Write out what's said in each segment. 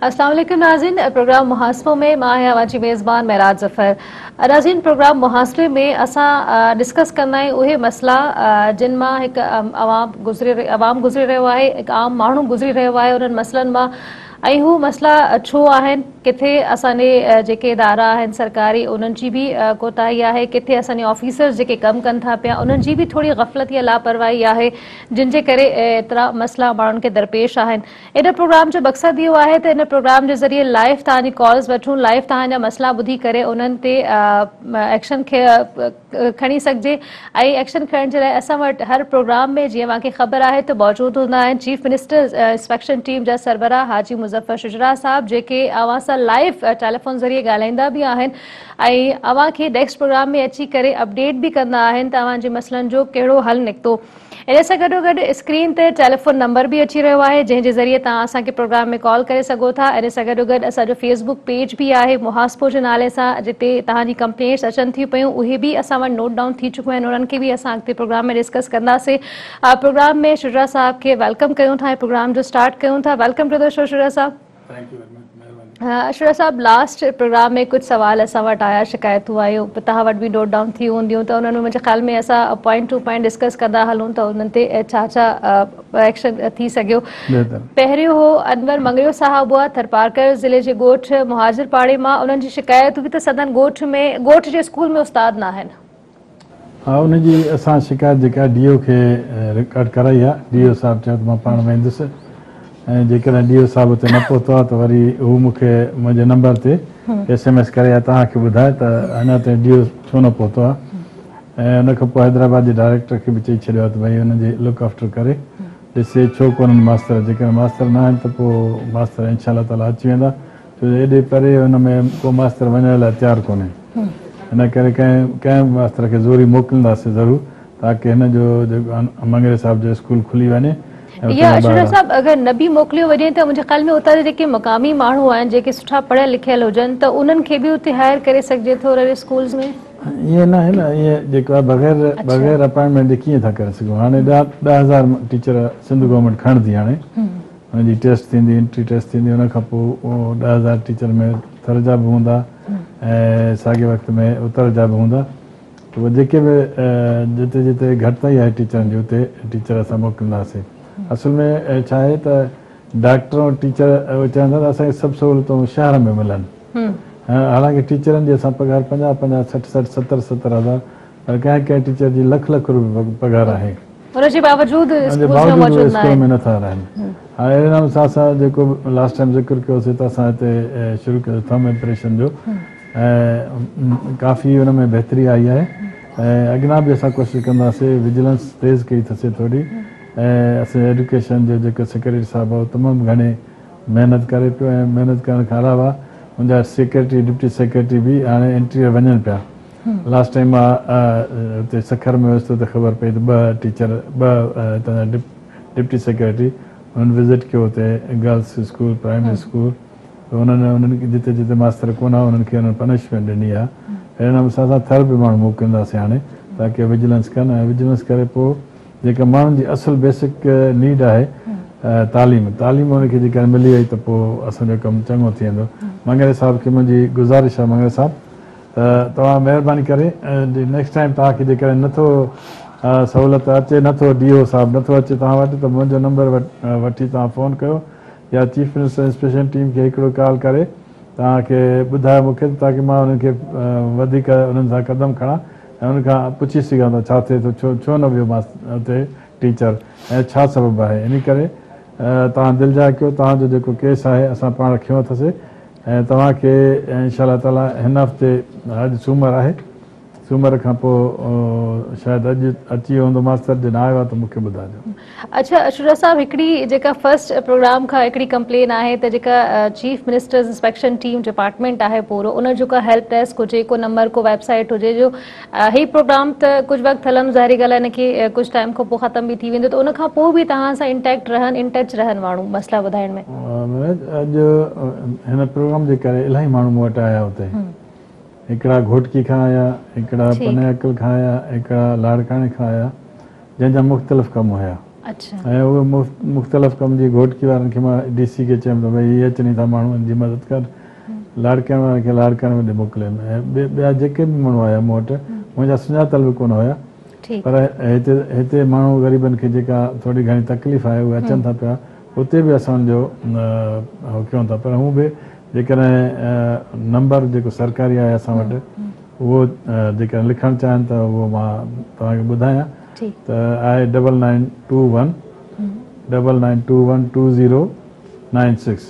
السلام عليڪم ناظرين پروگرام محاسبو ۾ مان آهيان اوهان جي ميزبان معراج ظفر ناظرين پروگرام محاسبي ۾ اسان ڊسڪس ڪندا آهيون اهي مسئلا جن مان هڪ عوام گذري عوام گذري رهيو آهي هڪ عام ماڻهو گذري رهيو آهي انهن مسئلن مان ۽ هو مسئلا ڇو آهن، ڪٿي اسان جي جيڪي ادارا آهن سرڪاري انهن جي به ڪوتاهي آهي، ڪٿي اسان جي آفيسرز جيڪي ڪم ڪن ٿا پيا انهن جي به ٿوري غفلت يا لاپرواهي آهي جن جي ڪري ايترا مسئلا ماڻهن کي درپيش آهن. ان پروگرام جو مقصد اهو آهي ته ان پروگرام جي ذريعي لائيو توهان جي ڪالز وٺون، لائيو توهان جا مسئلا ٻڌي ڪري انهن تي ايڪشن کڻي سگهجي ۽ ايڪشن کڻڻ جي لاء اسان وٽ هر پروگرام ۾ جيئن اوهان کي خبر آهي ته موجود هوندا آهن چيف منسٽر انسپيڪشن ٽيم جا سربراهه حاجي مظفر شجراع صاحب جيڪي اوهان سان لائيو ٽيليفون ذريعي ڳالهائيندا به آهن ۽ اوهان کي نيڪسٽ پروگرام ۾ اچي ڪري اپڊيٽ به ڪندا آهن ته اوهان جي مسئلن جو ڪهڙو حل نڪتو ان سان گڏوگڏ اسڪرين تي ٽيليفون نمبر به اچي رهيو آهي جنهن جي ذريعي توهان اسان کي پروگرام ۾ ڪال ڪري سگهو ٿا ان سان گڏوگڏ اسان جو فيس بڪ پيج به آهي محاسبو جي نالي سان جتي توهان جي ڪمپلينٽس اچن ٿيون پيون اهي به اسان وٽ نوٽ ڊائون ٿي چڪيون آهن انهن کي به اسان اڳتي پروگرام ۾ ڊسڪس ڪنداسين پروگرام ۾ شجاع صاحب کي ويلڪم ڪيون ٿا ۽ پروگرام جو اسٽارٽ ڪيون ٿا welcome to the show Shuja Sahib Ashraf صاحب لاسٽ پروگرام ۾ ڪجهه سوال اسان وٽ آيا شڪايتون آيون توهان وٽ به نوٽ ڊائون ٿي هونديون ته انهن ۾ منهنجي خيال ۾ اسان پوائنٽ ٽو پوائنٽ ڊسڪس ڪندا هلون ته انهن تي ڇا ڇا ايڪشن ٿي سگهيو پهريون هو انور مڱريو صاحب هئا ٿرپارڪر ضلعي جي ڳوٺ مهاجر پاڙي مان انهن جي شڪايت هئي ته سندن ڳوٺ ۾ ڳوٺ جي اسڪول ۾ استاد ناهن ها ان جي اسان شڪايت جيڪا ڊي او کي رڪارڊ ڪرائي آ ڊي او صاحب چيو ته مان پاڻ ويندس ۽ جيڪڏهن ڊي او صاحب اتي نه پهتو آ ته وري هو مون کي منهنجي نمبر تي ايس ايم ايس ڪري يا توهان کي ٻڌائي ته اڃا تائين ڊي او ڇو نه پهتو آ ۽ ان کان پوء حيدرآباد جي ڊائريڪٽر کي به چئي ڇڏيو آ ته ڀئي انهن جي لڪ آفٽر ڪري ڏسي ڇو ڪونهن ماستر جيڪڏهن ماستر نه آهن ته پوء ماستر انشاء الله تعالي اچي ويندا ڇو جو ايڏي پري ان ۾ ڪو ماستر وڃڻ لاء تيار ڪونهي. ان ڪري ڪنهن ڪنهن به ماستر کي زوري موڪلينداسين ضرور تاڪه هن جو جيڪو مڱري صاحب جو اسڪول کلي وڃي ۽ اتان يا شجاع صاحب اگر نه به موڪليو وڃي ته منهنجي خيال ۾ اتان جا جيڪي مقامي ماڻهو آهن جيڪي سٺا پڙهيل لکيل هجن ته انهن کي به اتي هائير ڪري سگهجي ٿو ريل اسڪولز ۾؟ ائين ناهي نه ائين جيڪو آهي بغير بغير اپائنٽمينٽ جي ڪيئن ٿا ڪري سگهون هاڻي ڏهه ڏهه هزار ٽيچر سنڌ گورنمينٽ کڻندي هاڻي. ان جي ٽيسٽ ٿيندي انٽري ٽيسٽ ٿيندي ان کان پوء ڏهه هزار ٽيچر ۾ ٿر جا به هوندا ۽ ساڳئي وقت ۾ اتر جا به هوندا پوء جيڪي به جتي جتي گهٽتائي آهي ٽيچرن جي اتي ٽيچر اسان موڪلينداسين اصل ۾ ڇا آهي ته ڊاڪٽر ۽ ٽيچر اهو چاهن ٿا ته اسان کي سڀ سهولتون شهر ۾ ملن حالانڪه ٽيچرن جي اسان پگهار پنجاهه پنجاهه سٺ سٺ ستر ستر هزار پر ڪنهن ڪنهن ٽيچر جي لک لک روپيه پگهار آهي. ان جي باوجود اسڪول ۾ نٿا رهن. هاڻي اهڙي نموني سان اسان جيڪو لاسٽ ٽائيم ذڪر ڪيو سي ته اسان هتي شروع ڪيو سي ٿم امپريشن جو ۽ ڪافي ان ۾ بهتري آئي آهي ۽ اڳنا به اسان ڪوشش ڪنداسي وجلنس تيز ڪئي ٿسي ٿوري ۽ اسين ايڊوڪيشن جو جيڪو سيڪريٽري صاحب هو تمام گهڻي محنت ڪري پيو ۽ محنت ڪرڻ کان علاوه ان جا سيڪريٽري ڊپٽي سيڪريٽري به هاڻي انٽريو وڃن پيا. لاسٽ ٽائيم مان اتي سکر ۾ هيس ته خبر پئي ته ٻه ٽيچر ٻه هتان جا ڊپٽي سيڪريٽري انهن وزٽ ڪيو اتي گرلس اسڪول پرائمري اسڪول ته انهن انهن جتي جتي ماستر ڪونه هئا انهن کي انهن پنشمينٽ ڏني آ اهڙي نموني سان اسان ٿر به ماڻهو موڪلينداسين هاڻي تاڪي وجلنس ڪن ۽ وجلنس ڪري پوء جيڪا ماڻهن جي اصل بيسڪ نيڊ آهي تعليم تعليم انهن کي جيڪڏهن ملي وئي ته پوء اسان جو ڪم چڱو ٿي ويندو مڱري صاحب کي منهنجي گذارش آ مڱري صاحب ته توهان مهرباني ڪري نيڪسٽ ٽائيم توهان کي جيڪڏهن نه ٿو سهولت اچي نه ٿو ڊي او صاحب نه ٿو اچي توهان وٽ ته منهنجو نمبر وٺي توهان فون ڪيو يا چيف منسٽر انسپيڪشن ٽيم کي هڪڙو ڪال ڪري توهان کي ٻڌايو مون کي تاڪي مان انهن کي وڌيڪ انهن سان قدم کڻان ۽ انهن کان پڇي سگهان ته ڇا ٿئي ٿو ڇو نه ويو ماس اتي ٽيچر ۽ ڇا سبب آهي انهي ڪري توهان دلجاء ڪيو توهان جو جيڪو ڪيس آهي اسان پاڻ کنيو اٿسي ۽ توهان کي ان شاء الله تعالي هن هفتي اڄ سومر آهي سومر کان پوء شايد اڄ اچي ويو هوندو ماستر جي نه آيو آهي ته مون کي ٻڌاجو. اڇا اشورا صاحب هڪڙي جيڪا فرسٽ پروگرام کان هڪڙي ڪمپلين آهي ته جيڪا chief ministers inspection team department آهي پورو ان جيڪا هيلپ ڊيسڪ هجي ڪو نمبر ڪو ويب سائيٽ هجي جو هي پروگرام ته ڪجهه وقت هلندو ظاهري ڳالهه هن کي ڪجهه ٽائيم کان پوء ختم به ٿي ويندو ته ان کان پوء به توهان سان ان ٽيڪٽ رهن ان ٽچ رهن ماڻهو مسئلا ٻڌائڻ ۾. منوج اڄ هن پروگرام جي ڪري الاهي ماڻهو مون وٽ آيا اتي هڪڙا گهوٽڪي کان آيا هڪڙا پني عقل کان آيا هڪڙا لاڙڪاڻي کان آيا جنهن جا مختلف ڪم هيا ۽ اهي مختلف ڪم جي گهوٽڪي وارن کي مان ڊي سي کي چيم ته ڀئي هي اچني ٿا ماڻهو هن جي مدد ڪر لاڙڪاڻي وارن کي لاڙڪاڻي ۾ ڏي موڪلين ۽ ٻيا جيڪي به ماڻهو آيا مون وٽ منهنجا سڃاتل به ڪونه هيا پر هتي هتي ماڻهو غريبن کي جيڪا ٿوري گهڻي تڪليف آهي اهي اچن ٿا پيا اتي به اسان انهن جو اهو ڪيون ٿا پر هون به جيڪڏهن نمبر جيڪو سرڪاري آهي اسان وٽ اهو جيڪڏهن لکڻ چاهن ته اهو مان توهان کي ٻڌايان ته آهي double nine two one double nine two one two zero nine six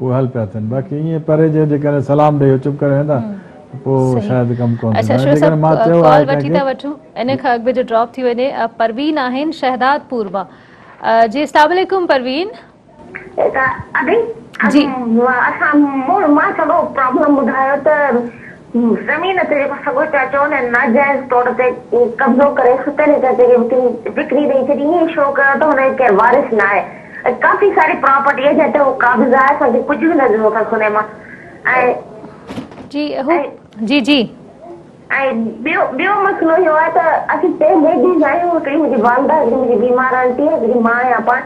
اهي حل پيا ٿين باقي ائين پري جي جيڪڏهن سلام ڏئي اهو چپ ڪري ويندا ته پوء شايد ڪم ڪونه ٿيندو ۽ جيڪڏهن مان چيو آهي ڪنهن کي ان کان اڳ به جو ڊراپ ٿي وڃي پروين آهن شهداد پور مان جي اسلام عليڪم پروين ادي جي اسان مان سڄو پرابلم ٻڌايو ته زمين تي جيڪو سڳو چاچو ان ناجائز طور تي قبضو ڪري ستيلي چاچي کي وڪري ڏئي ڇڏي ائين شو ڪيو ته هن جو ڪير وارث ناهي ۽ ڪافي ساري پراپرٽي آهي جنهن تي هو قابض آهي اسان کي ڪجهه به نه ڏنو اٿس هن مان جي اهو جي جي ۽ ٻيو مسئلو اهو آهي ته اسين ٽي ليڊيز آهيون هڪڙي منهنجي والده هڪڙي منهنجي بيمار آنٽي هڪڙي مان آهيان پاڻ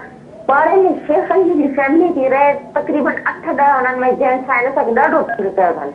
پاڙي ۾ شيخن جي هڪڙي فيملي ٿي رهي تقريبن اٺ ڏهه انهن ۾ جينٽس آهن اسان کي ڏاڍو تنگ ڪيو اٿن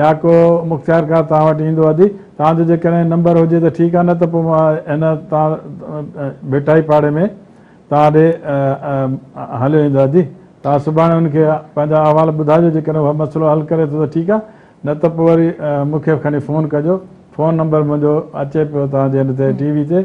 يا ڪو مختيارڪار توهان وٽ ايندو ادي توهان جو جيڪڏهن نمبر هجي ته ٺيڪ آهي نه ته پوء مان هن توهان ڀٽائي پاڙي ۾ توهان ڏي هليو ايندو ادي توهان سڀاڻي هن کي پنهنجا احوال ٻڌائجو جيڪڏهن هو مسئلو حل ڪري ٿو ته ٺيڪ آهي نه ته پوء وري مون کي کڻي فون ڪجو فون نمبر منهنجو اچي پيو توهان جي هن تي ٽي وي تي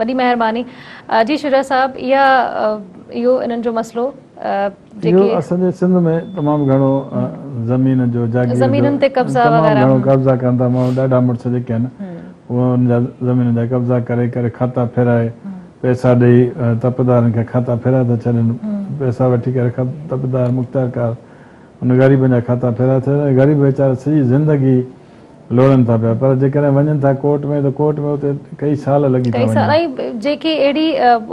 وڏي مهرباني جي شجاع صاحب اها اهو انهن جو مسئلو جيڪي اهو اسان جي سنڌ ۾ تمام گهڻو زمين جو جاگير جو زمينن تي قبضا وغيره تمام گهڻو قبضا ڪن ٿا ماڻهو ڏاڍا مڙس جيڪي آهن اهو ان جا زمينن جا قبضا ڪري ڪري کاتا ڦيرائي پئسا ڏئي تپدارن کي کاتا ڦيرائي ٿا ڇڏين پئسا وٺي ڪري تپدار مختيارڪار ان غريبن جا کاتا ڦيرائي ٿا ڇڏين غريب ويچارا سڄي زندگي لوڙن ٿا پيا پر جيڪڏهن وڃن ٿا ڪورٽ ۾ ته ڪورٽ ۾ اتي ڪئي سال لڳي ٿا وڃن. ڪئي سال ۽ جيڪي اهڙي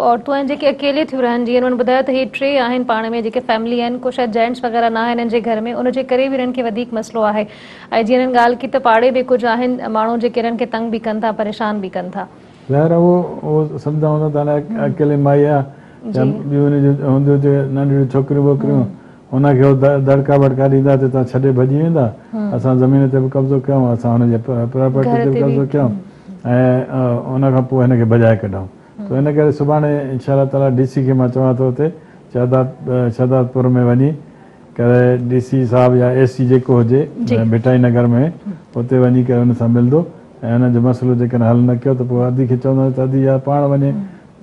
عورتون آهن جيڪي اڪيلي ٿيون رهن جيئن انهن ٻڌايو ته هي ٽي آهن پاڻ ۾ جيڪي فيملي آهن ڪو شايد جينٽس وغيره ناهي هنن جي گهر ۾ ان جي ڪري به هنن کي وڌيڪ مسئلو آهي ۽ جيئن هنن ڳالهه ڪئي ته پاڙي به ڪجهه آهن ماڻهو جيڪي هنن کي تنگ به ڪن ٿا پريشان به ڪن ٿا. ظاهر آهي هو سمجهندا هوندا ته هاڻي اڪيلي مائي آهي يا ٻيون هن جون هونديون هتي ننڍڙيون ڇوڪريون ووڪريون هن کي هو دڙڪا ٻڙڪا ڏيندا ته هتان ڇڏي ڀڄي ويندا، اسان زمين تي به قبضو ڪيائون، اسان هن جي پراپرٽي تي به قبضو ڪيائون ۽ ان کان پوء هن کي ڀڄائي ڪڍائون ٿو ان ڪري سڀاڻي انشاء الله تعاليٰ ڊي سي کي مان چوان ٿو اتي شهداد پور ۾ وڃي ڪري ڊي سي صاحب يا اي سي جيڪو هجي ڀٽائي نگر ۾ اتي وڃي ڪري ان سان ملندو ۽ ان جو مسئلو جيڪڏهن حل نه ڪيو ته پوء ادي کي چوندو ته ادي يا پاڻ وڃي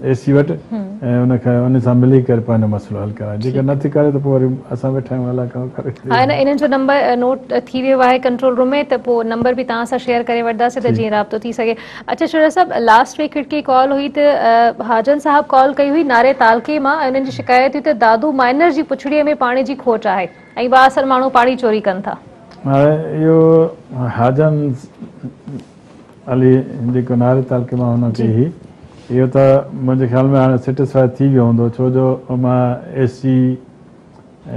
اي سي وٽ ۽ ان کي ان سان ملي ڪري پنهنجو مسئلو حل ڪرائي جيڪر نه ٿي ڪري ته پوء وري اسان ويٺا آهيون الاء ڪهڙو ڪري ها ان انهن جو نمبر نوٽ ٿي ويو آهي ڪنٽرول روم ۾ ته پوء نمبر به توهان سان شيئر ڪري وٺداسين ته جيئن رابطو ٿي سگهي اچا شهزاد صاحب لاسٽ ويڪ هڪڙي ڪال هئي ته حاجن صاحب ڪال ڪئي هئي ناري تعلقي مان ۽ انهن جي شڪايت هئي ته دادو مائنر جي پڇڙي ۾ پاڻي جي کوٽ آهي ۽ با اثر ماڻهو پاڻي چوري ڪن ٿا هاڻي اهو حاجن علي جي ڪناري تعلقي مان هن کي هي اهو ته منهنجي خيال ۾ هاڻي سيٽسفائي ٿي ويو هوندو ڇو جو مان S C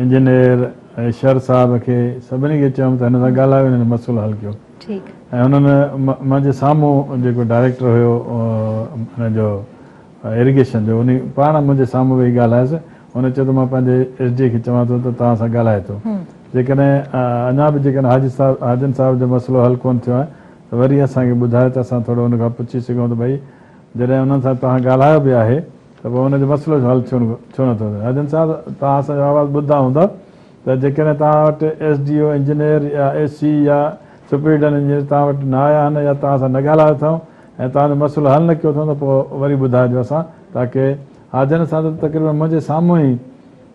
engineer ۽ Shar Sahib کي سڀني کي چيم ته هن سان ڳالهايو هن جو مسئلو حل ڪيو ٺيڪ ۽ هنن منهنجي سامهون جيڪو ڊائريڪٽر هيو هن جو اريگيشن جو انهي پاڻ منهنجي سامهون ويهي ڳالهايس ان چيو ته مان پنهنجي ايس ڊي اي کي چوان ٿو ته توهان سان ڳالهائي ٿو جيڪڏهن اڃا به جيڪڏهن حاجي صاحب حاجن صاحب جو مسئلو حل ڪونه ٿيو آهي ته وري اسان کي ٻڌايو ته اسان ٿورو ان کان پڇي سگهون ته ڀئي جڏهن انهن سان توهان ڳالهايو به آهي ته پوء ان جو مسئلو جو حل ڇو ڇو نٿو ٿئي حاجن صاحب توهان اسان جو آواز ٻڌندا هوندا ته جيڪڏهن توهان وٽ ايس ڊي او انجنيئر يا اي سي يا سپريڊنٽ انجنيئر توهان وٽ نه آيا آهن يا توهان سان نه ڳالهايو اٿئون ۽ توهان جو مسئلو حل نه ڪيو اٿئون ته پوء وري ٻڌائجو اسان تاڪه حاجن صاحب ته تقريبن منهنجي سامهون ئي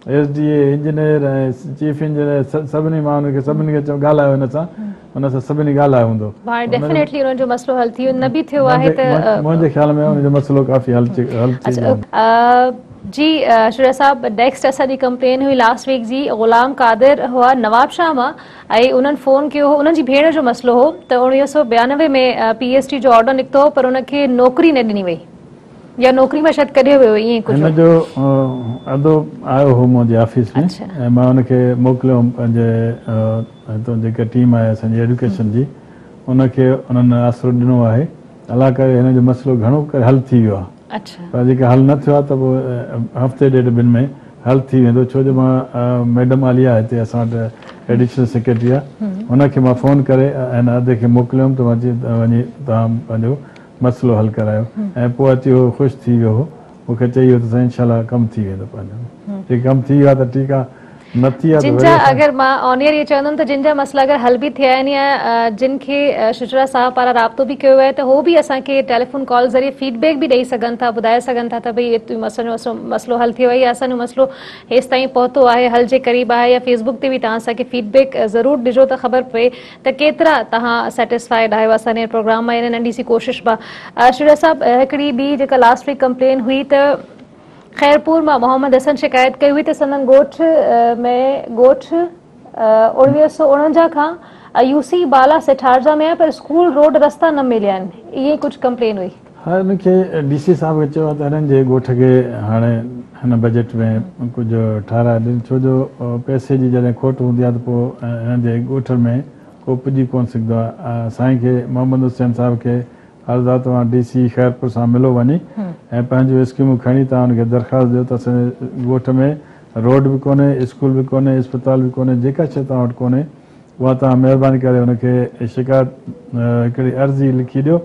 S D A engineer ۽ chief engineer سڀني ماڻهن کي سڀني کي ڳالهايو هن سان هن سان سڀني ڳالهايو هوندو هاڻي ڊيفنيٽلي انهن جو مسئلو حل ٿي نه به ٿيو آهي ته منهنجي خيال ۾ انهن جو مسئلو ڪافي حل ٿي ويو آهي جي شوريا صاحب نيڪسٽ اسان جي ڪمپلين هئي لاسٽ ويڪ جي غلام قادر هئا نوابشاهه مان ۽ انهن فون ڪيو هو، انهن جي ڀيڻ جو مسئلو هو ته اوڻويهه سؤ ٻيانوي ۾ پي ايس ٽي جو آرڊر نڪتو هو پر ان کي نوڪري نه ڏني وئي يا نوڪري مان شايد ڪڍيو ويو ائين ئي ڪجهه هن جو ادو آيو هو منهنجي آفيس ۾ ۽ مان ان کي موڪليو هوم پنهنجي هتان جيڪا ٽيم آهي اسان جي ايڊوڪيشن جي ان کي انهن آسرو ڏنو آهي. الله ڪري هن جو مسئلو گهڻو ڪري حل ٿي ويو آهي پر جيڪر حل نه ٿيو آهي ته پوء هفتي ڏيڍ ٻن ۾ حل ٿي ويندو ڇو جو مان ميڊم عاليه هتي اسان وٽ ايڊيشنل سيڪريٽري آهي ان کي مان فون ڪري هن عهدي کي موڪليو هوم ته وڃي توهان پنهنجو مسئلو حل ڪرايو ۽ پوء اچي هو خوش ٿي ويو هو مون کي چئي ويو ته سائين انشاء الله ڪم ٿي ويندو پنهنجو جي ڪم ٿي ويو آهي ته ٺيڪ آهي نه ٿي آهي ته وري اسان اگر مان آن ايئر اهو چوندم ته جن جا مسئلا اگر حل به ٿيا آهن يا جن کي شجرا صاحب پاران رابطو به ڪيو ويو آهي ته هو به اسان کي ٽيليفون ڪال ذريعي فيڊ بيڪ به ڏئي سگهن ٿا ٻڌائي سگهن ٿا ته ڀئي اهو اسان جو مسئلو حل ٿيو آهي يا اسان جو مسئلو هيستائين پهتو آهي حل جي قريب آهي يا فيسبوڪ تي به توهان اسان کي فيڊ بيڪ ضرور ڏجو ته خبر پئي ته ڪيترا توهان سيٽسفائيڊ آهيو اسان جي پروگرام مان يعني ننڍي سي ڪوشش مان شجاع صاحب هڪڙي ٻي جيڪا لاسٽ ويڪ ڪمپلين هئي ته خيرپور مان محمد حسن شڪايت ڪئي هئي ته سندن ڳوٺ ۾ ڳوٺ اوڻويهه سؤ اڻونجاهه کان يو سي بالا سيٺارجا ۾ آهي پر اسڪول روڊ رستا نه مليا آهن ائين ڪجهه ڪمپلين هئي. هن کي ڊي سي صاحب کي چيو ته هنن جي ڳوٺ کي هاڻي هن بجيٽ ۾ ڪجهه ٺهرائي ڏين ڇو جو پئسي جي جڏهن کوٽ هوندي آهي ته پوء هنن جي ڳوٺ ۾ ڪو پڄي ڪونه سگهندو آهي سائين کي محمد حسين صاحب کي عرض آهي توهان ڊي سي خيرپور سان ملو وڃي ۽ پنهنجون اسڪيمون کڻي توهان هن کي درخواست ڏيو ته اسان جي ڳوٺ ۾ روڊ به ڪونهي اسڪول به ڪونهي اسپتال به ڪونهي جيڪا شيء توهان وٽ ڪونهي اها توهان مهرباني ڪري ان کي شڪايت هڪڙي عرضي لکي ڏيو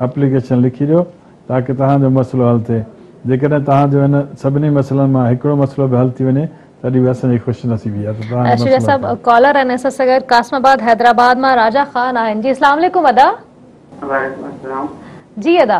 اپليڪيشن لکي ڏيو تاڪه توهان جو مسئلو حل ٿئي جيڪڏهن توهان جو هن سڀني مسئلن مان هڪڙو مسئلو به حل ٿي وڃي تڏهن به اسان جي خوش نصيبي آهي ته توهان جو مسئلو صاحب ڪالر آهن اسان سان گڏ قاسم آباد حيدرآباد مان راجا خان آهن جي اسلام عليڪم ادا وعليڪم السلام جي ادا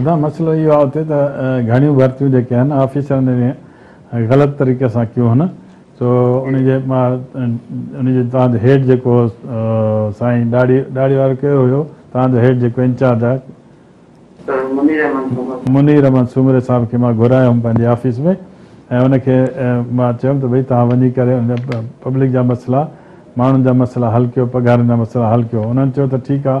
ادا مسئلو اهو آهي اتي ته گهڻيون ڀرتيون جيڪي آهن آفيسرن جي غلط طريقي سان ڪيون هن سو ان جي ان جي تان جو هيڊ جيڪو سائين ڏاڙهي ڏاڙهي وارو ڪيو هيو تان جو هيڊ جيڪو انچارج آهي منير احمد سومري صاحب کي مان گهرايو هيم پنهنجي آفيس ۾ ۽ ان کي مان چيم ته ڀئي تان وڃي ڪري ان پبلڪ جا مسئلا ماڻهن جا مسئلا حل ڪيو پگهارن جا مسئلا حل ڪيو انهن چيو ته ٺيڪ آهي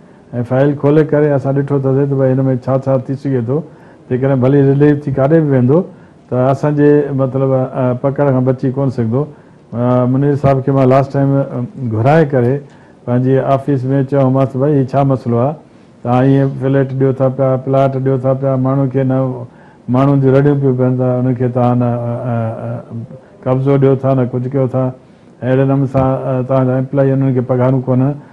۽ فائل کولي ڪري اسان ڏٺو ٿاسين ته ڀائي هن ۾ ڇا ڇا ٿي سگهي ٿو جيڪڏهن ڀلي رليف ٿي ڪاڏي به ويندو ته اسان جي مطلب پڪڙ کان بچي ڪونه سگهندو منير صاحب کي مان لاسٽ ٽائيم گهرائي ڪري پنهنجي آفيس ۾ چيومانس ته ڀائي هي ڇا مسئلو آهي توهان ائين فليٽ ڏيو ٿا پيا پلاٽ ڏيو ٿا پيا ماڻهن کي نه ماڻهن جون رڙيون پيون پين ته انهن کي توهان نه قبضو ڏيو ٿا نه ڪجهه ڪيو ٿا اهڙي نموني سان توهان جا امپلائي انهن کي پگهارون ڪونه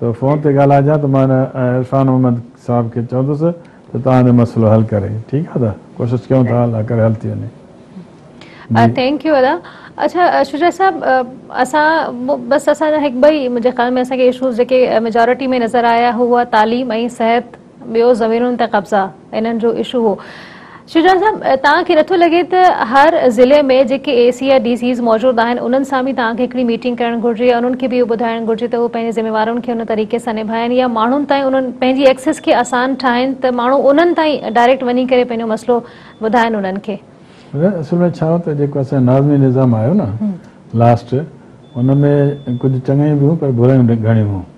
تو فون تي ڳالهائجان ته مان عرفان محمد صاحب کي چوندس ته توهان جو مسئلو حل ڪري ٺيڪ آهي ادا ڪوشش ڪيون ٿا الله ڪري حل ٿي وڃي جي ٿينڪ يو ادا اڇا شجاع صاحب اسان بس اسان جا هڪ ٻئي منهنجي خيال ۾ اسان کي اشوز جيڪي ميجارٽي ۾ نظر آيا هو هئا تعليم ۽ صحت ٻيو زمينن تي قبضا انهن جو اشو هو. شجاع صاحب توهان کي نٿو لڳي ته هر ضلعي ۾ جيڪي اي سي يا ڊي سيز موجود آهن انهن سان به توهان کي هڪڙي ميٽنگ ڪرڻ گهرجي يا انهن کي به اهو ٻڌائڻ گهرجي ته هو پنهنجي ذميوارين کي ان طريقي سان نڀائن يا ماڻهن تائين انهن پنهنجي ايڪسيس کي آسان ٺاهن ته ماڻهو انهن تائين ڊائريڪٽ وڃي ڪري پنهنجو مسئلو ٻڌائن انهن کي. اصل ۾ ڇا هو ته جيڪو اسان جو ناظمي نظام آيو نه لاسٽ ان ۾ ڪجهه چڱايون به هيون پر برائيون به گهڻيون هيون.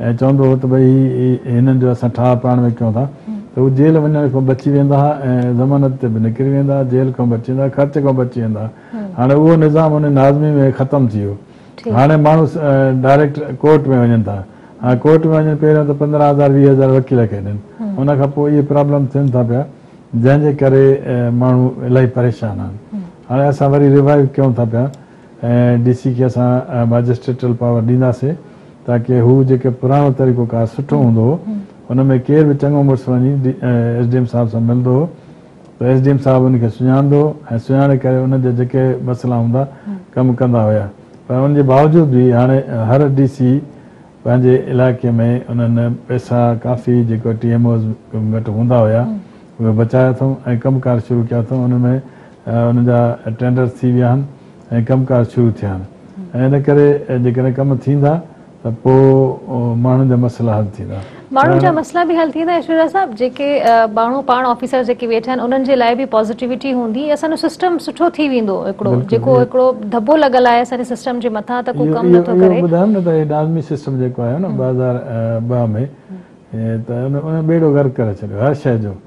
۽ چوندو هو ته ڀئي هي هنن جو اسان ٺاهه پاڻ ۾ ڪيون ٿا ته هو جيل وڃڻ کان بچي ويندا ها ۽ ضمانت تي به نڪري ويندا، جيل کان بچي ويندا، خرچ کان بچي ويندا. هاڻي اهو نظام ان ناظمي ۾ ختم ٿي ويو. هاڻي ماڻهو ڊائريڪٽ ڪورٽ ۾ وڃن ٿا. هاڻي ڪورٽ ۾ وڃن پهريون ته پندرهن هزار ويهه هزار وڪيل کي ڏين. ان کان پوء اهي پرابلم ٿين ٿا پيا جنهن جي ڪري ماڻهو الاهي پريشان آهن. هاڻي اسان وري ريوائيو ڪيون ٿا پيا. ۽ ڊي سي کي اسان ماجسٽريٽل پاور ڏينداسين تاڪه هو جيڪي پراڻو طريقو ڪار سٺو هوندو هو ان ۾ ڪير به چڱو مڙس وڃي ايس ڊي ايم صاحب سان ملندو هو ته ايس ڊي ايم صاحب ان کي سڃاڻندو هو ۽ سڃاڻي ڪري ان جا جيڪي مسئلا هوندا ڪم ڪندا هيا پر ان جي باوجود به هاڻي هر ڊي سي پنهنجي علائقي ۾ انهن پئسا ڪافي جيڪي ٽي ايم اوز وٽ هوندا هيا اهي بچايا اٿئون ۽ ڪم ڪار شروع ڪيا اٿئون ان ۾ ان جا ٽينڊرز ٿي ويا آهن ۽ ڪم ڪار شروع ٿيا آهن ۽ ان ڪري جيڪڏهن ڪم ٿيندا ته پوء ماڻهن جا مسئلا حل ٿيندا. ماڻهن جا مسئلا به حل ٿيندا ۽ شجاع صاحب جيڪي ماڻهو پاڻ آفيسر جيڪي ويٺا آهن انهن جي لاء به پازيٽيوٽي هوندي اسان جو سسٽم سٺو ٿي ويندو هڪڙو جيڪو هڪڙو ڌٻو لڳل آهي اسان جي سسٽم جي مٿان ته ڪو ڪم نٿو ڪري. اهو ٻڌايم نه ته هي ڊانمي سسٽم جيڪو آهيو نه ٻه هزار ٻه ۾ ته ان ٻيڙو غرق ڪري ڇڏيو هر شيء جو.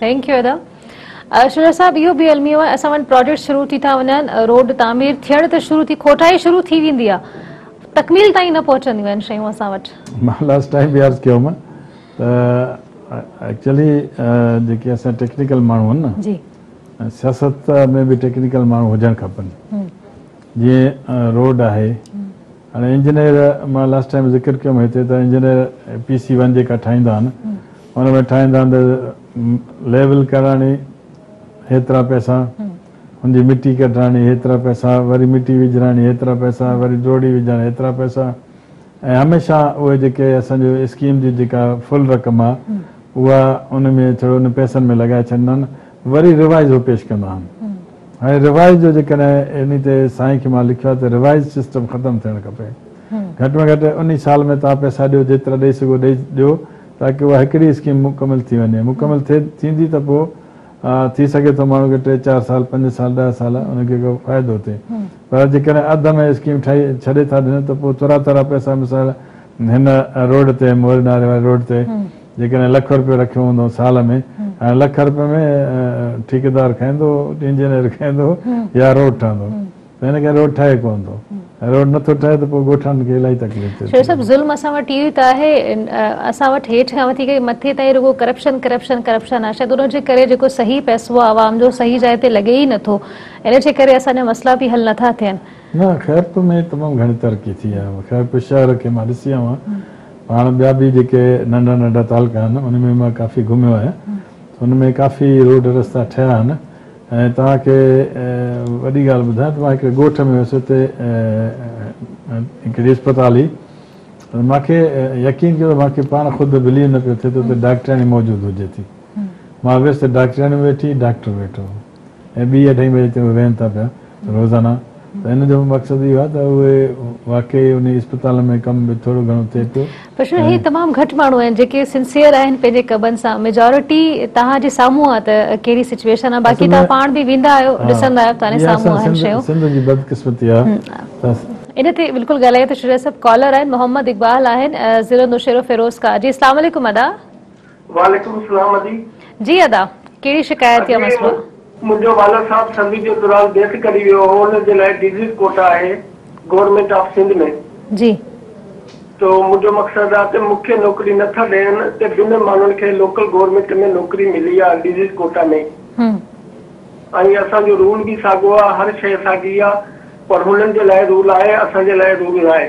ٿينڪ يو ادا شجاع صاحب اهو به الميو آهي اسان وٽ پراجيڪٽ شروع ٿي ٿا وڃن روڊ تعمير ٿيڻ ته شروع ٿي کوٽائي شروع ٿي ويندي آهي تڪميل تائين نه پهچنديون آهن شيون اسان وٽ مان لاسٽ ٽائيم به عرض ڪيو هوم ته ايڪچولي جيڪي اسان ٽيڪنيڪل ماڻهو آهن نه جي سياست ۾ به ٽيڪنيڪل ماڻهو هجڻ کپن جيئن روڊ آهي هاڻي انجنيئر مان لاسٽ ٽائيم ذڪر ڪيم هتي ته انجنيئر پي سي ون جيڪا ٺاهيندا آهن ان ۾ ٺاهيندا آهن ته ليول ڪراڻي هيترا پئسا ان جي مٽي ڪڍراڻي هيترا پئسا وري مٽي وجهراڻي هيترا پئسا وري ڊوڙي وجهراڻي هيترا پئسا ۽ هميشه اهي جيڪي اسان جو اسڪيم جي جيڪا فل رقم آ اها ان ۾ ڇڙو ان پئسن ۾ لڳائي ڇڏيندا آهن وري ريوائيز هو پيش ڪندا آهن هاڻي ريوائيز جو جيڪڏهن انهي تي سائين کي مان لکيو آهي ته ريوائيز سسٽم ختم ٿيڻ کپي گهٽ ۾ گهٽ انهي سال ۾ توهان پئسا ڏيو جيترا ڏئي سگهو ڏئي ڏيو تاڪه اها هڪڙي اسڪيم مڪمل ٿي وڃي مڪمل ٿئي ٿيندي ته پوء ٿي سگهي ٿو ماڻهو کي ٽي چار سال پنج سال ڏهه سال ان کي ڪو فائدو ٿئي پر جيڪڏهن اڌ ۾ اسڪيم ٺاهي ڇڏي ٿا ڏين ته پوء ترا ترا پئسا مثال هن روڊ تي موري ناري واري روڊ تي جيڪڏهن لک رپيو رکيو هوندو سال ۾ هاڻي لک رپين ۾ ٺيڪيدار کائيندو، انجنيئر کائيندو يا روڊ ٺهندو ته هن ڪڏهن روڊ ٺاهي ڪونه ٿو ۽ روڊ نٿو ٺهي ته پوء ڳوٺاڻن کي الاهي تڪليف ٿئي ٿي. شيخ صاحب ظلم اسان وٽ اهو ئي ته آهي اسان وٽ هيٺ کان وٺي ڪري مٿي تائين رڳو ڪرپشن ڪرپشن ڪرپشن آهي شايد ان جي ڪري جيڪو صحيح پئسو آهي عوام جو صحيح جاء تي لڳي ئي نٿو ان جي ڪري اسان جا مسئلا به حل نٿا ٿين. نه خيرپور ۾ تمام گهڻي ترقي ٿي آهي خيرپور شهر کي مان ڏسي آيو آهيان هاڻ ٻيا به جيڪي ننڍا ننڍا تعلقا آهن ان ۾ مان ڪافي گهميو آهيان ته ان ۾ ڪافي روڊ رستا ٺهيا آهن ۽ توهان کي وڏي ڳالهه ٻڌايان ته مان هڪڙي ڳوٺ ۾ هيس اتي هڪڙي اسپتال هئي ته مان کي يقين ڪيو ته مان کي پاڻ خود بليو نه پيو ٿئي ته اتي ڊاڪٽرياڻي موجود هجي ٿي مان ويس ته ڊاڪٽرياڻي ويٺي ڊاڪٽر ويٺو هو. ۽ ٻي اڍائي بجي تي اهي ويهن ٿا پيا روزانه ته ان جو مقصد اهو آهي ته اهي واقعي انهي اسپتال ۾ ڪم به ٿورو گهڻو ٿئي پيو پرشن هي تمام گهٽ ماڻهو آهن جيڪي سنسيئر آهن پنهنجي ڪبن سان ميجارٽي توهان جي سامهون آهي ته ڪهڙي سچويشن آهي باقي توهان پاڻ به ويندا آهيو ڏسندا آهيو ته هاڻي سامهون آهن شيون سنڌ جي بدقسمتي آهي ان تي بلڪل ڳالهايو ته شجاع صاحب ڪالر آهن محمد اقبال آهن ضلعو نوشهرو فيروز ڪا جي اسلام عليڪم ادا وعليڪم السلام ادي. جي ادا ڪهڙي شڪايت يا ادي مسئلو آ؟ منهنجو والد صاحب سروس جي دوران ڊيٿ ڪري ويو هو ان جي لاء ڊيزيز ڪوٽا آهي گورنمينٽ آف سنڌ ۾ جي. تو منهنجو مقصد آ ته مون کي نوڪري نه ٿا ڏين ته بنهه ماڻهن کي لوڪل گورنمينٽ ۾ نوڪري ملي آ ڊيزيز ڪوٽا ۾ هم. ۽ اسان جو رول به ساڳو آ هر شئي ساڳي آ پر هنن جي لاء رول آهي اسان جي لاء رول ناهي.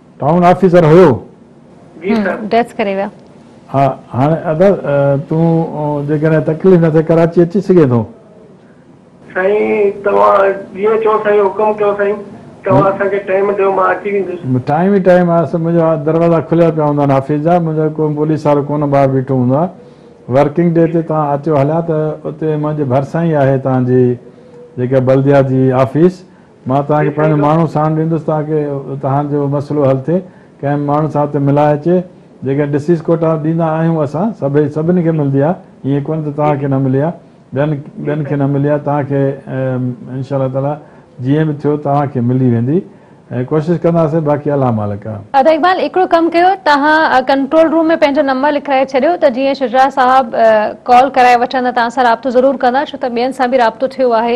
ٽائون آفيسر ھيو. جي سر. ڊيٿ ڪري ويا. ھا ھاڻي ادا تون جيڪڏھن تڪليف نه ٿئي ڪراچي اچي سگھين ٿو. سائين توھان جيئن چئو سائين حڪم ڪيو سائين توھان اسان کي ٽائيم ڏيو مان اچي ويندس. ٽائيم ئي ٽائيم آ سر منھنجا دروازا کليل پيا ھوندا آھن آفيس جا منھنجو ڪو پوليس وارو ڪونه ٻاھر بيٺو ھوندو آ ورڪنگ ڊي تي توھان اچو ھليا ته اتي منھنجي ڀرسان ئي آھي توھان جي جيڪا بلديات جي آفيس مان توهان کي پنهنجو ماڻهو ساڻ ڏيندس تاڪه توهان جو مسئلو حل ٿئي. ڪنهن ماڻهو سان اتي ملائي اچي. جيڪڏهن ڏسيس ڪوٽا ڏيندا آهيون اسان سڀئي سڀني کي ملندي آهي ائين ڪونه ته توهان کي نه ملي آهي ٻين ٻين کي نه ملي آهي توهان کي ان شاء الله تعاليٰ جيئن به ٿيو توهان کي ملي ويندي ۽ ڪوشش ڪنداسين باقي الله مالڪ آهي. ادا اقبال هڪڙو ڪم ڪيو توهان ڪنٽرول روم ۾ پنهنجو نمبر لکرائي ڇڏيو ته جيئن شجاع صاحب ڪال ڪرائي وٺندا توهان سان رابطو ضرور ڪندا ڇو ته ٻين سان به رابطو ٿيو آهي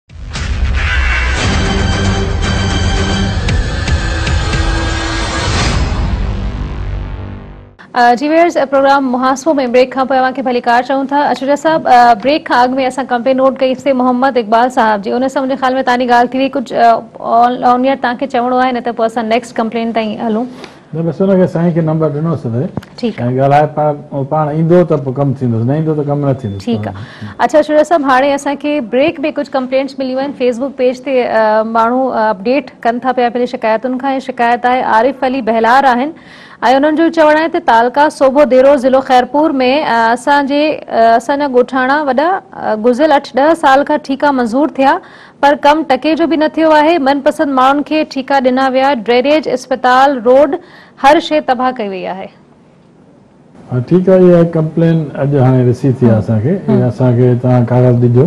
جي ويئرز پروگرام محاسبو ۾ بريڪ کان پوء اوهان کي ڀليڪار چئون ٿا اشريا صاحب بريڪ کان اڳ ۾ اسان ڪمپلين نوٽ ڪئي سي محمد اقبال صاحب جي ان سان منهنجي خيال ۾ تاني ڳالهه ٿي وئي ڪجهه آن ايئر تانکي چوڻو آهي نه ته پوء اسان نيڪسٽ ڪمپلين تائين هلون نه بس ان کي سائين کي نمبر ڏنو سين ته سائين ڳالهائي پاڻ هو پاڻ ايندو ته پوء ڪم ٿيندس نه ايندو ته ڪم نه ٿيندس ٺيڪ آ اڇا شورا صاحب هاڻي اسان کي بريڪ ۾ ڪجهه ڪمپلينٽس مليون آهن فيس بوڪ پيج تي ماڻهو اپڊيٽ ڪن ٿا پيا پنهنجي شڪايتن کان ۽ شڪايت آهي عارف علي بهلار آهن ۽ انهن جو چوڻ آهي ته تعلقه صوبو ديرو ضلعو خيرپور ۾ اسان جي اسان جا ڳوٺاڻا وڏا گذريل اٺ ڏهه سال کان ٺيڪا منظور ٿيا پر ڪم ٽڪي جو به نه ٿيو آهي، من پسند ماڻهن کي ٺيڪا ڏنا ويا، ڊرينيج، اسپتال، روڊ هر شيء تباهه ڪئي وئي آهي. ها ٺيڪ آهي اها ڪمپلين اڄ هاڻي رسي ٿي آهي اسان کي ۽ اسان کي توهان ڪاغذ ڏجو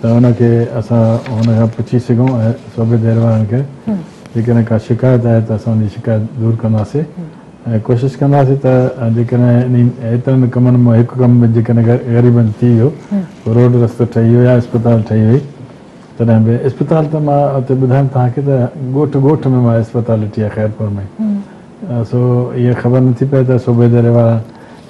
ته ان کي اسان هن کان پڇي سگهون ۽ صوبيدير وارن کي جيڪڏهن ڪا شڪايت آهي ته اسان ان جي شڪايت دور ڪنداسي. ۽ ڪوشش ڪنداسين ته جيڪڏهن انهن ايترن ڪمن مان هڪ ڪم به جيڪڏهن غريبن ٿي ويو، روڊ رستو ٺهي ويو يا اسپتال ٺهي وئي تڏهن به اسپتال ته مان اتي ٻڌايم توهان کي ته ڳوٺ ڳوٺ ۾ مان اسپتال ڏٺي آهي خيرپور ۾ سو اها خبر نه ٿي پئي ته صوبي ديري وارا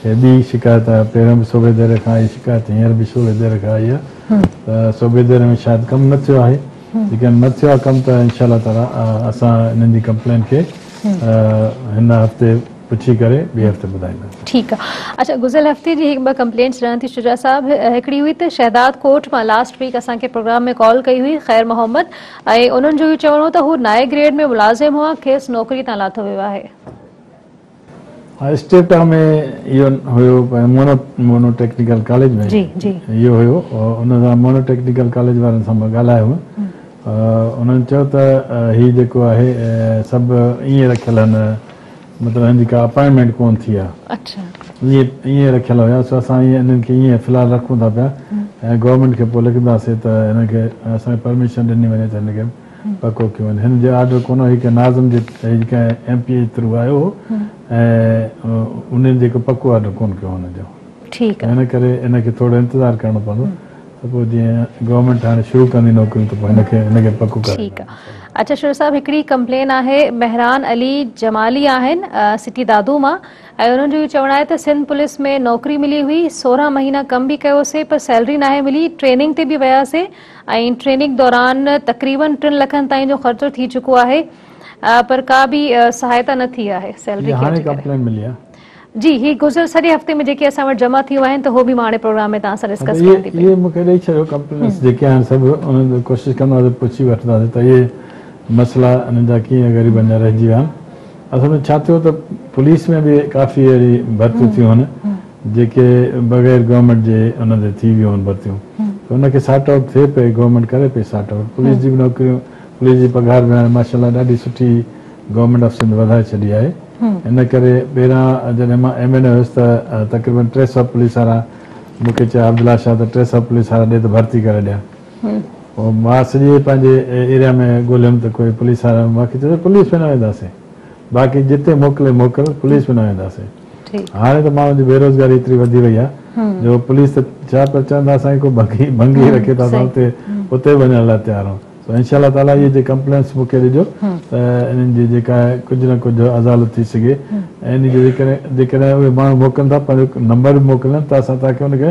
هي ٻي شڪايت آهي پهريون به صوبي ديري کان آئي شڪايت هينئر به صوبي ديري کان آئي آهي ته صوبي ديري ۾ شايد ڪم نه ٿيو آهي. جيڪڏهن نه ٿيو آهي ڪم ته انشاء الله تعالي اسان انهن جي ڪمپلين کي هن هفتي پڇي ڪري ٻئي هفتي ٻڌائيندا. ٺيڪ آ اڇا گذريل هفتي جي هڪ ٻه ڪمپلينٽس ڏيان ٿي شجاع صاحب هڪڙي هئي ته شهداد ڪوٽ مان لاسٽ ويڪ اسان کي پروگرام ۾ ڪال ڪئي هئي خير محمد ۽ انهن جو اهو چوڻ هو ته هو نائي گريڊ ۾ ملازم هئا کيس نوڪري تان لاٿو ويو آهي. اسٽيپٽا ۾ اهو هيو مونو مونو ٽيڪنيڪل ڪاليج ۾ اهو هيو ان سان مونو ٽيڪنيڪل ڪاليج وارن سان مان ڳالهايو هو انهن چيو ته هي جيڪو آهي سڀ ائين رکيل هن مطلب هن جي ڪا اپائنٽمينٽ ڪون ٿي آهي ائين رکيل هيا سو اسان ائين انهن کي ائين في الحال رکون ٿا پيا ۽ گورنمينٽ کي پوء لکنداسين ته هن کي اسان کي پرميشن ڏني وڃي ته هن کي پڪو ڪيو وڃي. هن جو آرڊر ڪونه هو، هي ڪنهن ناظم جي هي ڪنهن ايم پي اي جي ٿرو آيو هو ۽ انهن جيڪو پڪو آرڊر ڪونه ڪيو هن جو ٺيڪ آهي ان ڪري هن کي ٿورو انتظار ڪرڻو پوندو ته پوء جيئن گورنمينٽ هاڻي شروع ڪندي نوڪريون ته پوء هن کي هن کي پڪو ڪري ٺيڪ آهي اچا شروع صاحب هڪڙي ڪمپلين آهي مهران علي جمالي آهن سٽي دادو مان ۽ انهن جو اهو چوڻ آهي ته سنڌ پوليس ۾ نوڪري ملي هئي سورهن مهينا ڪم به ڪيو سي پر سيلري ناهي ملي ٽريننگ تي به ويا سي ۽ ٽريننگ دوران تقريبن ٽن لکن تائين جو خرچو ٿي چڪو آهي پر ڪا به سهائتا نه ٿي آهي سيلري ڪيئر جي ڪري جي هي گذريل سڄي هفتي ۾ جيڪي اسان وٽ جمع ٿيون آهن ته هو به مان هاڻي پروگرام ۾ توهان سان ڊسڪس ڪيان ٿي پئي اهي مون کي ڏئي ڇڏيو ڪمپلينس جيڪي آهن سڀ انهن تي ڪوشش ڪنداسين پڇي وٺنداسين ته اهي مسئلا انهن جا ڪيئن غريبن جا رهجي ويا آهن اصل ۾ ڇا ٿيو ته پوليس ۾ به ڪافي اهڙي ڀرتيون ٿيون هن جيڪي بغير گورنمينٽ جي ان تي ٿي ويون هن ڀرتيون ته ان کي سارٽ آئوٽ ٿئي پئي گورنمينٽ ڪري پئي سارٽ آئوٽ پوليس جي به نوڪريون پوليس جي پگهار به هاڻي ماشاء الله ڏاڍي سٺي گورنمينٽ آف سنڌ وڌائي ڇڏي آهي ان ڪري ٻيران جڏهن مان ايم اين اي هيس ته تقريبن ٽي سؤ پوليس وارا مون کي چيا عبدالله شاهه ته ٽي سؤ پوليس وارا ڏي ته ڀرتي ڪري ڏيان مان سڄي پنهنجي ايريا ۾ ڳوليم ته ڪوئي پوليس وارا مون کي چيو پوليس ۾ نه وينداسين باقي جتي موڪلي موڪل پوليس ۾ نه وينداسين هاڻي ته ماڻهن جي بيروزگاري ايتري وڌي وئي آهي جو پوليس ته ڇا پر چون ٿا اسانکي ڪو ڀنگي رکي ته اسان اتي اتي به وڃڻ لاء تيار آهيون سو انشاء الله تعالي اهي جي ڪمپلينس مون کي ڏجو ته انهن جي جيڪا آهي ڪجهه نه ڪجهه ازالت ٿي سگهي ۽ ان جي جيڪڏهن اهي ماڻهو موڪلن ٿا پنهنجو نمبر به موڪلين ته اسان توهان کي ان کي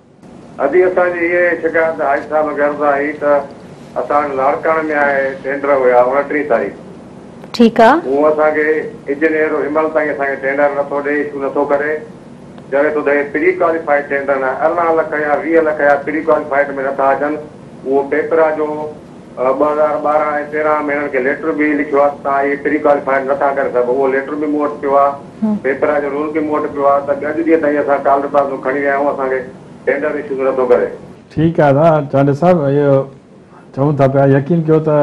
ادي اسان جي هيء شڪايت حاجي صاحب کي عرض آهي ته اسان وٽ لاڙڪاڻي ۾ آهي ٽينڊر هيا اوڻٽيهين تاريخ ٺيڪ آ. هو اسان کي اجنيئر هنمهل تائين اسان کي ٽينڊر نٿو ڏئي اشو نٿو ڪري چوي ٿو ته هي پري ڪواليفائيڊ ٽينڊر ن ارڙهن لک يا ويهه لک يا پري ڪواليفائيڊ ۾ نٿا اچن اهو پيپرا جو ٻه هزار ٻارهن ۽ تيرهن ۾ هنن کي ليٽر به لکيو آ ته توهان هي پري ڪواليفائيڊ نٿا ڪري سگهو اهو ليٽر به مون وٽ پيو آ پيپرا جو رول به مون وٽ پيو آ ته اڄ ڏينهن تائين اسان ٽالر پلازو کڻي رهيا آهيون اسان کي ٽينڊر ايشو به نٿو ڪري. ٺيڪ آ نه چانڊيو صاحب اهو چئون ٿا پيا يقين ڪيو ته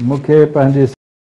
مون کي پنهنجي.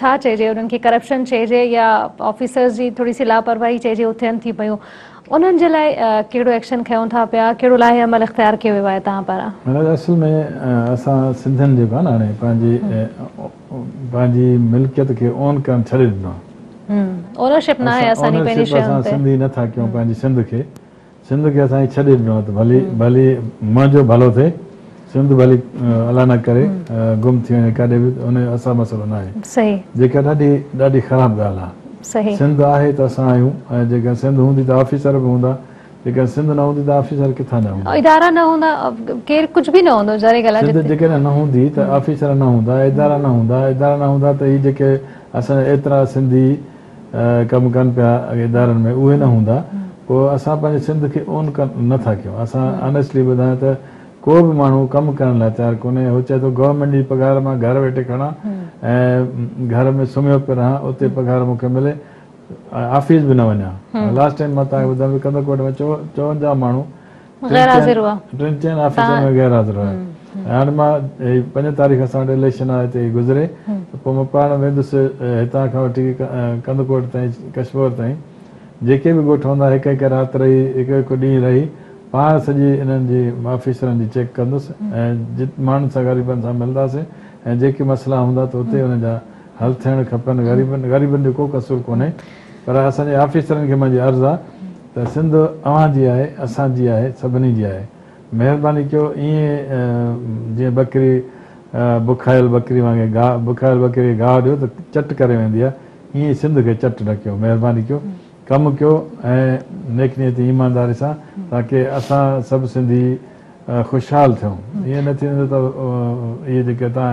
ڇا چئجي انهن کي ڪرپشن چئجي يا آفيسرز جي ٿوري سي لاپرواهي چئجي اهو ٿين ٿي پيون انهن جي لاء ڪهڙو ايڪشن کنيون ٿا پيا ڪهڙو لائحه عمل اختيار ڪيو ويو آهي توهان پاران. مهراج اصل ۾ اسان سنڌين جيڪو آهي نه هاڻي پنهنجي پنهنجي ملڪيت کي اون ڪرڻ ڇڏي ڏنو آهي اونرشپ ناهي اسان جي پنهنجي شين تي اسان سنڌي نٿا ڪيون پنهنجي سنڌ کي سنڌ کي اسان کي ڇڏي ڏنو آهي ته ڀلي ڀلي منهنجو ڀلو ٿئي سنڌ ڀلي الله نه ڪري گم ٿي وڃي ڪاڏي به ان جو اسان مسئلو نه آهي جيڪا ڏاڍي ڏاڍي خراب ڳالهه آهي سنڌ آهي ته اسان آهيون ۽ جيڪڏهن سنڌ هوندي ته آفيسر به هوندا جيڪڏهن سنڌ نه هوندي ته آفيسر ڪٿان نه هوندا ادارا نه هوندا ڪير ڪجهه به نه هوندو ظاهري ڳالهه آهي سنڌ جيڪڏهن نه هوندي ته آفيسر نه هوندا ادارا نه هوندا ادارا نه هوندا ته هي جيڪي اسان جا ايترا سنڌي ڪم ڪن پيا ادارن ۾ اهي نه هوندا پوء اسان پنهنجي سنڌ کي اون نه ٿا ڪيون اسان آنيسٽلي ٻڌايان ته ڪو به ماڻهو ڪم ڪرڻ لاء تيار ڪونهي هو چئي ٿو گورنمينٽ جي پگهار مان گهر ويٺي کڻان ۽ گهر ۾ سمهيو پيو رهان اتي پگهار مون کي ملي آفيس به نه وڃان لاسٽ ٽائيم مان توهان کي ٻڌايان ڪنڌڪوٽ ۾ چوونجاهه ماڻهو غير حاضر هئا ٽن چئن آفيسرن ۾ غير حاضر هئا ۽ هاڻي مان هي پنج تاريخ اسان وٽ اليڪشن آهي ته هي گذري ته پوء مان پاڻ ويندس هتان کان وٺي ڪنڌڪوٽ تائين ڪشمور تائين جيڪي به ڳوٺ هوندا هڪ هڪ رات رهي هڪ هڪ ڏينهن رهي پاڻ سڄي انهن جي آفيسرن جي چيڪ ڪندس ۽ جت ماڻهن سان غريبن سان ملنداسين ۽ جيڪي مسئلا هوندا ته اتي انهن جا حل ٿيڻ کپن غريبن غريبن جو ڪو قصور ڪونهي پر اسان جي آفيسرن کي منهنجي عرض آ ته سنڌ اوهان جي آهي اسان جي آهي سڀني جي آهي مهرباني ڪيو ائين جيئن ٻڪري بکايل ٻڪري وانگي گاهه بکايل ٻڪري کي گاهه ڏيو ته چٽ ڪري ويندي آ ائين سنڌ کي چٽ نه ڪيو مهرباني ڪيو ڪم ڪيو ۽ نيڪ نيتي ايمانداري سان تاڪي اسان سڀ سنڌي خوشحال ٿيون ائين نه ٿيندو ته اهي جيڪي تان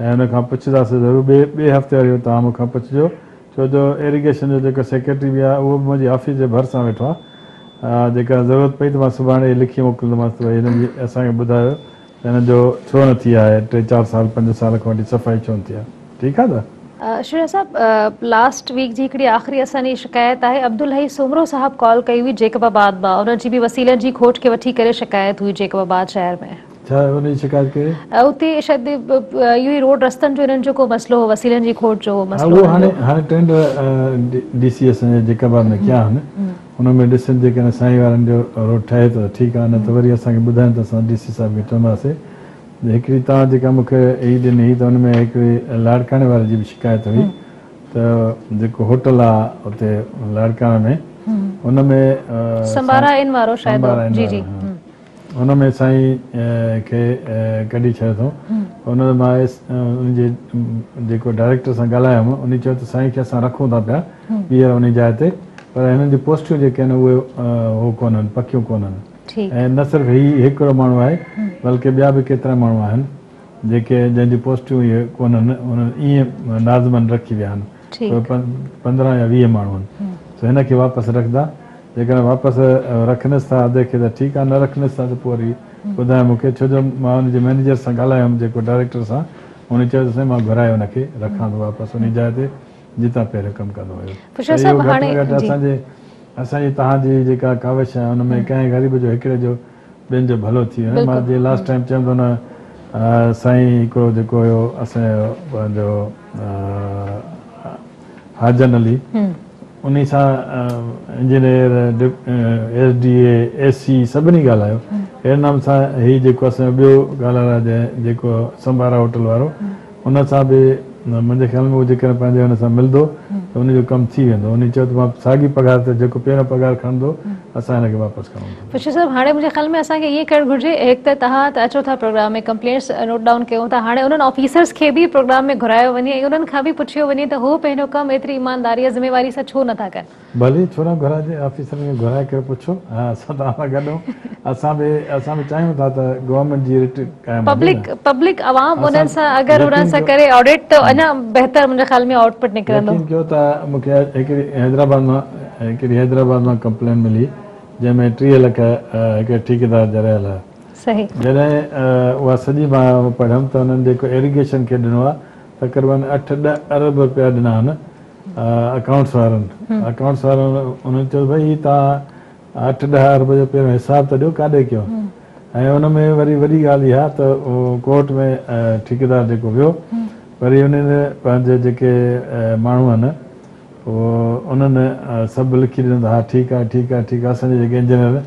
۽ ان کان پڇنداسين ضرور ٻئي ٻئي هفتي واري اهو تان مون کان پڇجو ڇو جو ايريگيشن جو جيڪو سيڪريٽري به آهي اهو به منهنجي آفيس جي ڀرسان ويٺو آهي جيڪڏهن ضرورت پئي ته مان سڀاڻي اهي لکي موڪلندومانس ته ڀئي هنن جي اسان کي ٻڌايو ته هنن جو ڇو نه ٿي آهي ٽي چار سال پنج سال کان وٺي صفائي ڇو نه ٿي آهي ٺيڪ آهي نه. شيريا صاحب لاسٽ ويڪ جي هڪڙي آخري اسان جي شڪايت آهي عبدالحئي سومرو صاحب ڪال ڪئي هئي جيڪب آباد مان ان جي به وسيلن جي کوٽ کي وٺي ڪري شڪايت هئي جيڪب آباد شهر ۾. ڇا ان جي شڪايت ڪئي؟ اتي شايد اهو ئي روڊ رستن جو انهن جو ڪو مسئلو هو وسيلن جي کوٽ جو هو مسئلو. اهو هاڻي هاڻي ٽينڊر ڊي سي ايس ۽ جيڪبا ۾ ڪيا آهن ان ۾ ڏسين جيڪڏهن سائين وارن جو روڊ ٺهي ٿو ته ٺيڪ آهي نه ته وري اسان کي ٻڌائين ته اسان ڊي سي صاحب کي چونداسي هڪڙي توهان جيڪا مون کي هي ڏني هئي ته ان ۾ هڪڙي لاڙڪاڻي واري جي به شڪايت هئي ته جيڪو هوٽل آهي اتي لاڙڪاڻي ۾ ان ۾ سمبارا ان وارو شايد جي جي هن ۾ سائين کي ڪڍي ڇڏيو اٿئون ان ۾ مان آيس ان جي جيڪو ڊائريڪٽر سان ڳالهايو هوم انهي چيو ته سائين کي اسان رکون ٿا پيا ٻيهر انهي جاء تي پر هنن جون پوسٽيون جيڪي آهن اهي هو ڪونهن پڪيون ڪونهن ۽ نه صرف هي هڪڙو ماڻهو آهي بلڪه ٻيا به ڪيترا ماڻهو آهن جيڪي جنهن جون پوسٽيون اهي ڪونهن انهن ايئن ناظمن رکي ويا آهن. ٺيڪ. پوء پندرهن يا ويهه ماڻهو آهن، سو هن کي واپس رکندا؟ جيڪڏهن واپس رکنس ٿا ادي کي ته ٺيڪ آهي، نه رکنس ٿا ته پوء وري ٻڌايو مون کي، ڇو جو مان ان جي مئنيجر سان ڳالهايو هوم، جيڪو ڊائريڪٽر سان، ان چيو ته سائين مان گهرائي ان کي رکان ٿو واپس انهي جاء تي جتان پهريون ڪم ڪندو هيو. ته اهو گهٽ ۾ گهٽ اسان جي اسان جي توهان جي جيڪا ڪاوش آهي ان ۾ ڪنهن غريب جو هڪڙي جو ٻين جو ڀلو ٿئي وڃي مان جي لاسٽ ٽائيم چيم ٿو نه سائين هڪڙو جيڪو هيو اسان جو پنهنجو حاجن علي انهي سان engineer S D A S C سڀني ڳالهايو اهڙي نمونا سان هي جيڪو اسان جو ٻيو ڳالهائڻ جيڪو سمبارا هوٽل وارو ان سان به منهنجي خيال ۾ هو جيڪڏهن پنهنجي ان سان ملندو ته ان جو ڪم ٿي ويندو. انهي چيو ته مان ساڳي پگهار تي جيڪو پهريون پگهار کڻندو اسان هن کي واپس ڪرڻو پوندو. پشتي صاحب هاڻي منهنجي خيال ۾ اسان کي ائين ڪرڻ گهرجي هڪ ته توهان ته اچو ٿا پروگرام ۾ ڪمپلينٽس نوٽ ڊائون ڪيون ٿا هاڻي انهن آفيسرز کي به پروگرام ۾ گهرايو وڃي ۽ انهن کان به پڇيو وڃي ته هو پنهنجو ڪم ايتري ايمانداري ۽ ذميواري سان ڇو نٿا ڪن. ڀلي ڇو نه گهرائي جي آفيسرن کي گهرائي ڪري پڇو ها اسان توهان سان گڏ آهيون اسان به اسان به چاهيون ٿا ته گورنمينٽ جي رٽ قائم هجي نه پبلڪ عوام انهن سان اگر انهن سان ڪري آڊٽ ته اڃا بهتر منهنجي خيال ۾ آئوٽ پٽ نڪرندو. يقين ڪيو ته مون کي هڪڙي حيدرآباد مان هڪڙي حيدرآباد مان ڪمپلين ملي جنهن ۾ ٽيهه لک هڪڙي ٺيڪيدار جا رهيل هيا صحيح جڏهن اها سڄي مان پڙهيم ته هنن جيڪو ايريگيشن کي ڏنو آهي تقريبن اٺ ڏهه ارب رپيا ڏنا آهن اڪائونٽس وارن اڪائونٽس وارن انهن چيو ڀاء هي تان اٺ ڏهه ارب جو پهريون حساب ته ڏيو ڪاڏي ڪيو ۽ ان ۾ وري وڏي ڳالهه اها ته ڪورٽ ۾ ٺيڪيدار جيڪو ويو وري انهن پنهنجي جيڪي ماڻهو آهن انهن سڀ لکي ڏنو ته ها ٺيڪ آهي ٺيڪ آهي ٺيڪ آهي اسان جي جيڪي انجنيئر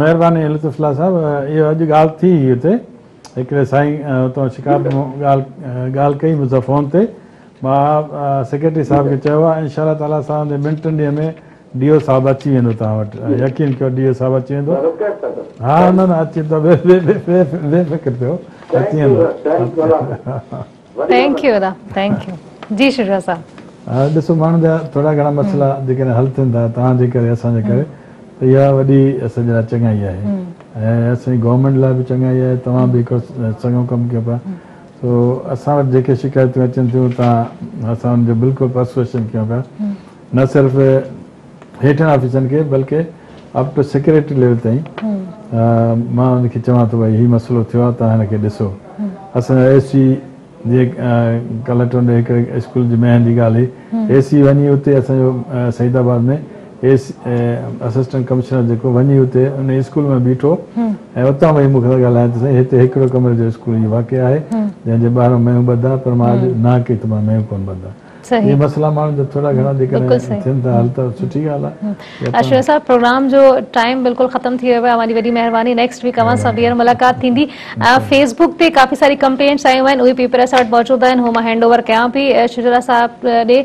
مهرباني اي لطف الله صاحب اهو اڄ ڳالهه ٿي هئي اتي هڪڙي سائين اتان شڪار ڳالهه ڪئي مون سان فون تي مان سيڪريٽري صاحب کي چيو آهي انشاء الله تعالي اسان جي ٻن ٽن ڏينهن ۾ ڊي او صاحب اچي ويندو توهان وٽ يقين ڪيو ڊي او صاحب اچي ويندو ها نه نه اچي ويندو بي فڪر ٿيو اچي ويندو ٿينڪ يو ادا ٿينڪ يو جي شجاع صاحب. ڏسو ماڻهن جا ٿورا گهڻا مسئلا جيڪڏهن حل ٿين ٿا توهان جي ڪري اسان جي ڪري ته اها وڏي اسان جي لاء چڱائي آهي ۽ اسان جي گورنمينٽ لاء به چڱائي آهي توهان به هڪڙو چڱو ڪم ڪيو پيا سو اسان وٽ جيڪي شڪايتون اچن ٿيون توهان اسان ان جو بلڪل پرسويشن ڪيون پيا نه صرف هيٺين آفيسرن کي بلڪ اپ ٽو سيڪريٽري ليول تائين مان انهن کي چوان ٿو ڀائي هي مسئلو ٿيو آهي توهان هن کي ڏسو اسان جا اي سي جي ڪالهه ٽونڊي هڪ اسڪول جي مهن جي ڳالهه هئي اي سي وڃي اتي اسان جو Saeedabad ۾ A C assistant commissioner جيڪو وڃي اتي ان اسڪول ۾ بيٺو ۽ اتان وئي مون کي ڳالهايان ته سائين هتي هڪڙو ڪمري جو اسڪول هي واقع آهي جنهن جي ٻاهران ميون ٻڌا پر مان اڄ ناهه ڪئي ته مان ميون ڪونه ٻڌا صحيح مسئلا ماڻهن جا ٿورا گهڻا جيڪڏهن ٿين ٿا حل ته سٺي ڳالهه آهي اشرف صاحب پروگرام جو ٽائيم بلڪل ختم ٿي ويو آهي اوهان جي وڏي مهرباني نيڪسٽ ويڪ اوهان سان ٻيهر ملاقات ٿيندي فيس بڪ تي ڪافي ساري ڪمپلينٽس آيون آهن اهي پيپر اسان وٽ موجود آهن هو مان هينڊ اوور ڪيان پي شجرا صاحب ڏي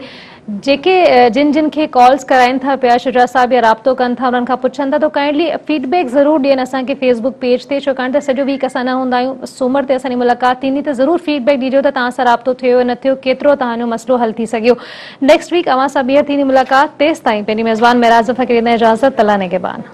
جيڪي جن جن کي ڪالس ڪرائين ٿا پيا شجرا صاحب يا رابطو ڪن ٿا انهن کان پڇن ٿا تو ڪائنڊلي فيڊ بيڪ ضرور ڏين اسان کي فيس بڪ پيج تي ڇوڪاڻ ته سڄو ويڪ اسان نه هوندا آهيون سومر تي اسان جي ملاقات ٿيندي ته ضرور فيڊ بيڪ ڏيجو ته توهان سان رابطو ٿيو يا نه ٿيو ڪيترو توهان جو مسئلو حل ٿي سگهيو نيڪسٽ ويڪ اوهان سان ٻيهر ٿيندي ملاقات تيستائين پنهنجي ميزبان معراج ظفر کي ڏيندان اجازت الله نگهبان.